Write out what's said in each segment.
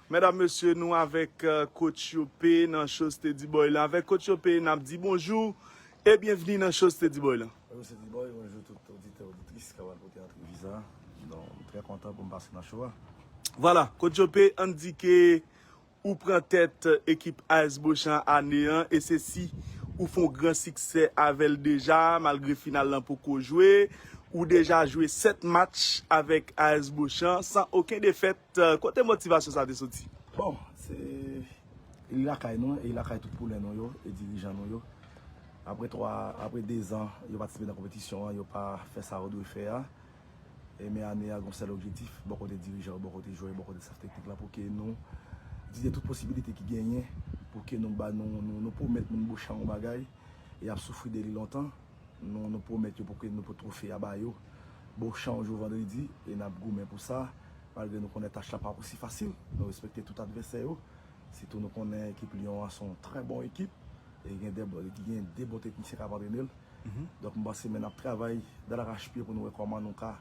Medam mesye nou avek coach yo p nan show steady boy lan avek coach yo p nap di bonjou e byenvni nan show steady boy lan. Bonjour Steady Boy, bonjour tout oditè oditris kap al koute antrevi sa, don m trè kontan poum pase nan show a. Vwala, Kot Yo P ann di ke ou pran tèt ekip AS Bochan ane an e se si ou fon gran siksè avè l deja malgre final lan poko jwe, ou deja jwe 7 match avèk AS Bochan san oken defèt Kote motivasyon sa te soti? Bon, se li lakay nou, e li lakay tout poulin nou yo, e dirijan nou yo. Apre 3, apre 2 zan, yo patisipe nan konpetisyon an, yo pa fè sa yo dwe fè a. E men ane a, gon sèl objetif, bò kote dirijan yo, bò kote jwè yo, bò kote staff teknik la, pou ke nou itilize tout posibilite ki genyen, pou ke nou ba nou, nou pwomèt moun Bochan yon bagay, e y ap soufri de li lontan. Nou pwomèt yo pou ke nou pot twofe a ba yo. Bon chan jou vandredi e nap goumen pou sa. Malgre nou konnen tach la pap osi fasil. Nou respekte tout advèsè yo. Sitou nou konnen ekip Lyon an son trè bon ekip. E gen de bon teknisyen kap antrene l. Donk m panse men nap travay dal rachpye pou nou wè kòman nou ka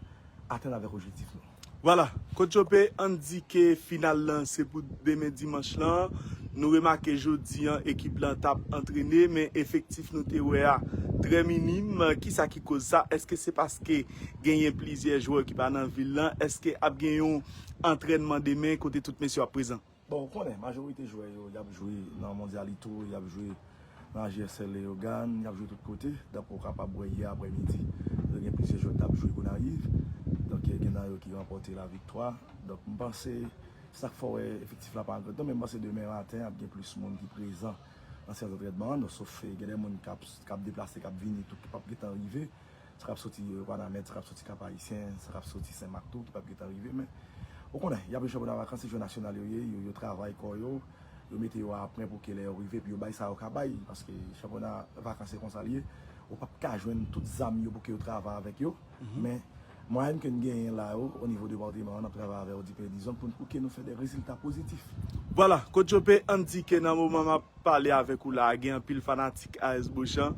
atenn avèk ojektif nou. Vwala, Kot Jope endike final lan se pou demen dimanch lan. Nou remake jodi an ekip lan t ap antrene men efektif nou te wè a trè minim. Kisa ki koz sa? Èske se paske genyen plizyè jwè ki pa nan vil lan? Èske ap gen yon antrènman demen kote tout mesye yo ap prezan? Bon ou konnen majorite jwè yo yap jwe nan mondialito, yap jwe nan AJSL Leyogàn, yap jwe tout kote, donk ou kapab wè yè aprè midi yo gen plizyè jwè ki tap jwe Gonayiv, donk gen nan yo ki ranpòte la viktwa, donk m panse sak fè w wè efektif la pa an grandnonb men m panse demen maten ap gen plis moun ki prezan nan seyans antrènman an, sof gen de moun kap deplase kap vini tou ki pap gen tan rive. Sa k ap soti Wanament, sa k ap soti Kap Ayisyen, sa k ap soti Sen Mak tou ki pap gen tan rive men ou konnen y ap jwenn chanpyona vakans se jwè nasyonal yo ye, yo travay kò yo, yo mete yo a pwen pou ke lè yo rive pou yo bay sa yo ka bay paske chanpyona vakans se konsa l ye ou pap ka jwenn tout zam yo pou ke yo travay avèk yo men mwayenn ke n genyen la yo onivo depateman an n ap travay avè yo dipè dizon pou ke nou fè de rezilta pozitif. Vwala, Coach Joppé, Andy Kena moman m ap. pale avèk ou la a gen anpil fanatik AS Bochan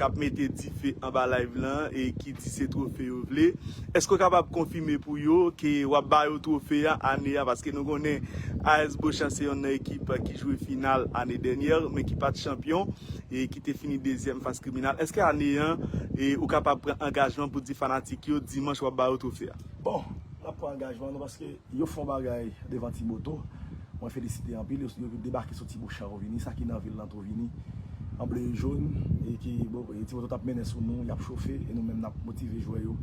kap mete dife anba live lan e ki di se trofe yo vle. Èske ou kapab konfime pou yo ke wap ba yo trofe a ane a paske nou konnen AS Bochan se yonn nan ekip ki jwe final ane dènyè men ki pat chanpyon e ki te fini dezyèm fas Criminal. Èske ane an ou kapab pran angajman pou di fanatik yo dimanch wap ba yo trofe a? Bon, nap pran angajman nou paske. Yo fò bagay devan ti moto. Mwen felisite anpil yo yo debake sou ti bouchan yo vini sa ki nan vil lan tou vini an ble e jón e ki bo e ti moto tap mennen sou nou yap chofe e nou menm nap motive jwè yo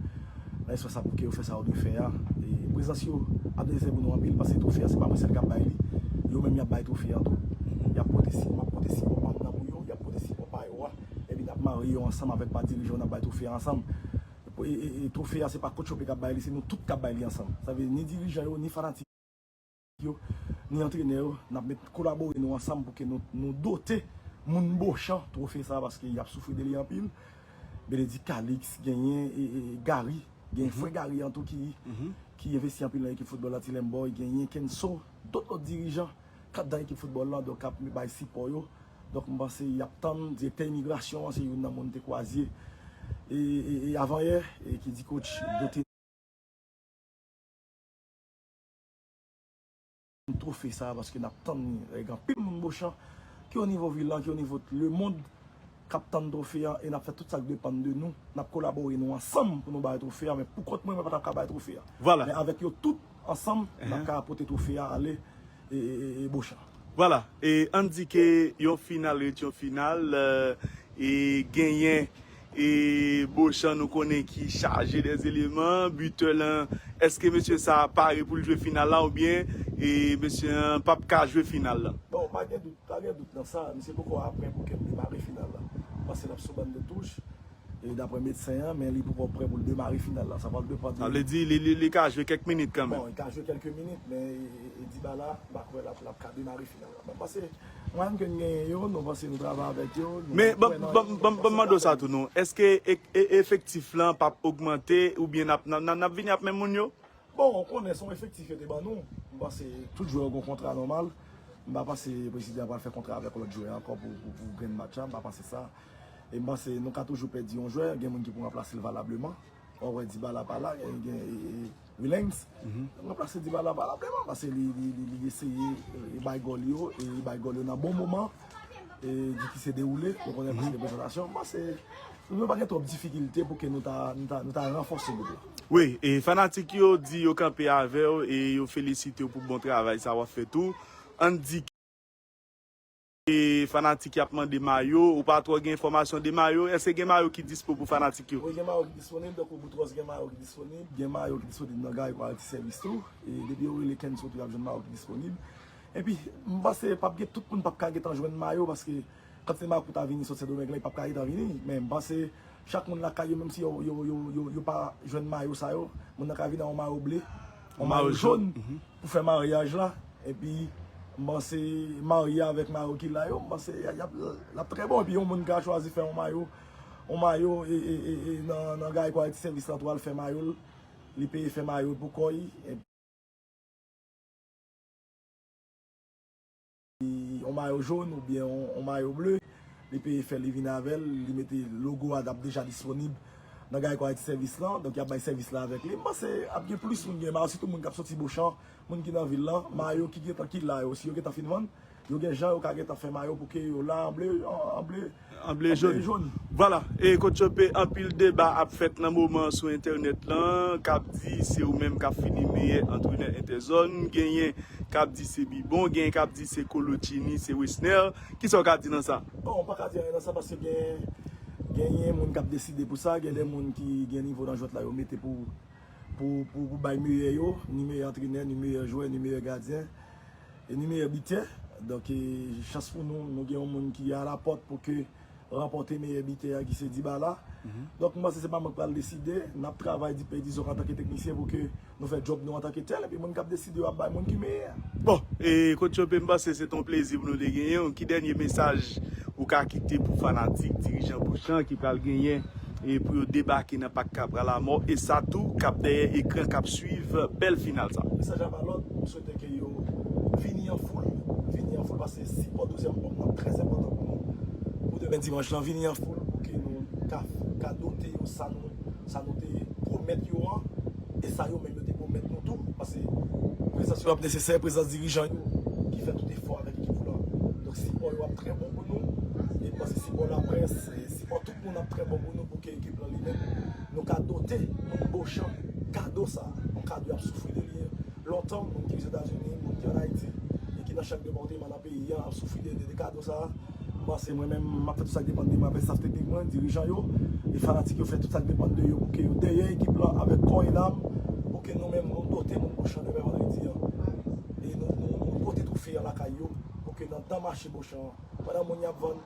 nan espas la pou ke yo fè sa yo dwe fè a e prezans yo ap nesesè pou nou anpil paske twofe an se pa mwen sèl kap bay li yo menm yap bay twofe an tou yap pote si map pote sipò pam nan pou yo yap pote sipò pa yo a epi nap marye yo ansanm avèk pa dirijan yo nap bay twofe a ansanm e trofe a se pa coach Hoppe kap bay li se nou tout kap bay li ansanm sa vle di ni dirijan yo ni fanatik yo ni antrenè yo nap met kolabore nou ansanm pou ke nou dote moun Beauchamp trofe sa paske yap soufri de li anpil Benedict Calix genyen Garry genyen frè Garry an tou ki investi anpil nan ekip football antilè m boy genyen Kenso tout lòt dirijan. 4 dan ekip foutbòl lan donk ap bay sipò yo donk m panse yap tann direktè imigrasyon an se youn nan moun te kwazye e avan yè e ki di kotch do te n twofe sa paske nap tann ni e gen anpil moun bochan ki o nivo vil lan ki o nivo t lemond kap tann twofe an e nap fè tout sak depann de nou nap kolabore nou ansanm pou nou bay twofe an men poukont mwen mwen patap ka bay twofe an men avèk yo tout. Ansanm, nap ka pote twofe a ale Bochan. Vwala, e ann di ke yon final ret yon final, e genyen e Bochan nou konnen ki chaje de eleman, bitè lan, eske mesye sa a pare pou l jwe final la oubyen e mesye an pap ka jwe final la? Bon, pa gen dout, pa gen dout nan sa, misye poko aprè pou ke l debare final la. M panse l ap sou ban de touch, daprè medsen an, men li poukò prè pou l demare final la. Sa pral depan de. Sa vle di li ka jwe kèk minit kanmenm. Bon, li ka jwe kèlke minit, men Dybala, m pa kwè l ap ka demare final la. Mwen panse mwayenn ke n genyen yo, nou panse nou travay avèk yo. Men, banm mande w sa tou non, èske efektif lan pap ogmante oubyen n ap vini ap menm moun yo? Bon, ou konnen se yon efektif yo te ban nou. M panse tout jwè yo gen yon kontra nòmal. M pa panse prezidan an pral fè kontra avèk yon lòt jwè ankò pou grenn match la. M pa panse sa. E m panse nou ka toujou pèdi yon jwè. Gen moun ki pou ranplase l valableman. Ou wè Dibala pa la, gen Wilens. Ranplase Dibala valableman. Pase li eseye bay gòl yo. E li bay gòl yo nan bon moman. e di ki se dewoule nou konnen ki se prezantasyon mwen panse nou dwe pa gen twòp difikilte pou ke nou ta nou ta ranfòse gwoup la. Wi e fanatik yo di yo kanpe avèw e yo felisitew pou bon travay sa wap fè tou ann di ke e fanatik yap mande mayo ou pa twò gen enfòmasyon de mayo èske gen mayo ki dispo pou fanatik yo? Wi gen mayo ki disponib tankou Boutros gen mayo ki disponib gen mayo ki disponib nan Garry Paris Service tou e depi yo rele Kenzo tou yap jwenn mayo ki disponib. Epi m panse pap gen tout moun pap ka gentan jwenn mayo paske kantite mayo ki pou ta vini sot sendomeng lan yo pap ka gentan vini men m panse chak moun lakay yo menm si yo pa jwenn mayo sa yo moun nan ka vini ak yon mayo ble yon mayo jòn pou fè maryaj la epi m panse marye avèk mayo ki la yo m panse lap trè bon epi yon moun ka chwazi fè yon mayo yon mayo nan gari quality service lan tou al fè mayo l li peye fè mayo l pou kò l. yon mayo jaune ou byen yon mayo bleu li peye fè li vin avèl li mete logo a dap deja disponib nan gayko ayiti sèvis lan donk yap bay sèvis la avèk li m panse ap gen plis moun ki gen mayo sitou moun kap soti bochan moun ki nan vil lan mayo ki gentan ki la yo si yo gentan fin vann Yo gen jan yo ka gentan fè mayo pou ke yo la an ble an ble an ble jòn. Vwala e kot Chope anpil deba ap fèt nan moman an sou entènèt lan kap di se ou menm kap fini meyè antrenè entèzòn genyen kap di se Bibon genyen kap di se Kolo Tchini se Wesner kisa ou ka di nan sa? Bon mpa ka di anyen nan sa paske gen genyen moun kap deside pou sa gen de moun ki gen nivo nan jwèt la yo mete pou pou pou bay meyè yo ni meyè antrenè ni meyè jwè ni meyè gadyen. Enimeyè bitè, donk e chans pou nou, nou gen yon moun ki a la pòt pou ke ranpòte meyè bitè a ki se Dibala. Donk m panse se pa mwen k pral deside, n ap travay dipè dizon antan ke teknisyen pou ke nou fè djòb nou antan ke tèl, epi moun k ap deside yo ap bay moun ki meyè a. Bon, e Kot Chope m panse se t on plezi pou nou te genyen w, ki dènye mesaj ou ka kite pou fanatik dirijan Bochan ki pral genyen e pou yo debake nan pak Kapra Lamò e sa tou k ap dèyè ekran k ap swiv bèl final sa? Mesaj la pa lòt, m swete. Swete ke yo vini an foul, vini an foul paske sipò dezyèm òm nan trè enpòtan pou nou. Pou demen dimanch lan, vini an foul pou ke nou ka dote yo sa nou sa nou te pwomèt yo an e sa yo menm yo te pwomèt nou tou paske prezans yo ap nesesè, prezans dirijan yo ki fè tout efò avèk ekip lan. Donk sipò yo ap trè bon pou nou e m panse sipò laprès, sipò tout moun ap trè bon pou nou pou ke ekip lan li menm nou ka dote moun Bochan kado sa, yon kado y ap soufri de li. Lontan, moun ki Ozetazini, moun ki an Ayiti e ki nan chak depatema nan peyi an ap soufri de kado sa a. M panse mwen menm m ap fè tout sa k depann de mwen avèk staf teknik mwen, dirijan yo e fanatik yo fè tout sa k depann de yo pou ke yo dèyè ekip lan avèk kò e nam pou ke nou menm nou dote moun Bochan demen vandredi an e nou pote twofe an lakay yo pou ke nan dan mache Bochan an pandan moun y ap vann